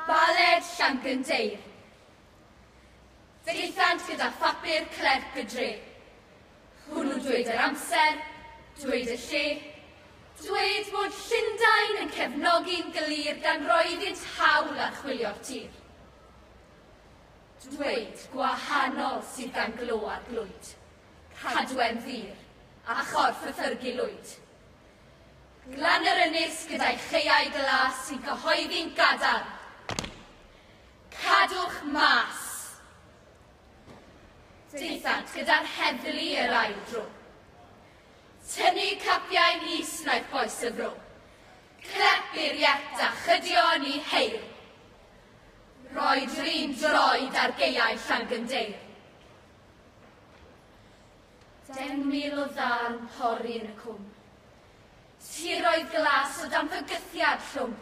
Baled Llangendeir. Daethant gyda phapur clerc y dre. Hwnnw dweud yr amser, dweud y lle, dweud bod Llundain yn cefnogi'n glir gan roi iddynt hawl archwilio'r tir. Dweud gwahanol sydd gan Glo a Glwyd, Cadwern Ddur a Chorff y Thyrgu Lwyd. Glan yr ynys gyda'i chaeau glas sy'n cyhoeddi'n gadarn, Cadwch mas! Daethant gyda'r heddlu yr ail dro. Tynnu capiau nis wnaeth bois y fro. Clep i'r iet a chydio yn ei heir. Roed yr un droed ar geiau Llangyndeir. Deng mil o ddarn pori yn y cwm. Tiroedd glas o dan fygythiad llwm.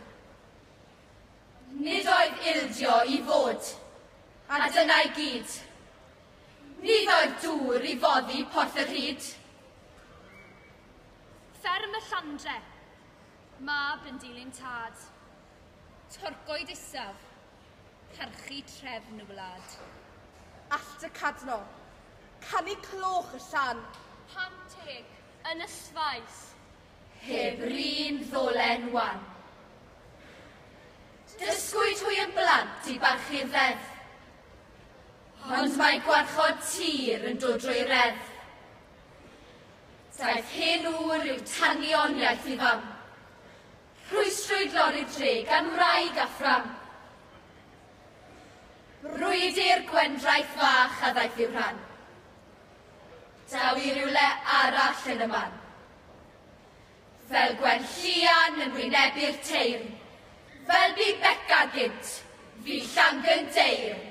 Nid oedd ildio i fod, a dyna i gyd. Nid oedd dŵr i foddi Porth y Rhyd. Fferm y Llandre, mab yn dilyn tad. Torcoed isaf, parchu trefn y wlad. Allt y Cadno, canu cloch y llan. Pam teg, yn y sfaes. Heb 'r un ddolen wan. Dysgwyd hwy yn blant i barchu'r ddeddf. Ond mae gwarchod tir yn dod drwy reddf. Daeth hyn ŵr i'w tanioniaeth i fam. Rhwystrwyd lori dre gan wraig a phram. Brwydr gwendraeth fach a ddaeth i'w rhan. Daw i rywle arall yn y man. Fel gwen llian yn wynebu'r teirn. Fel bu Beca gynt, fi llangynt deirn.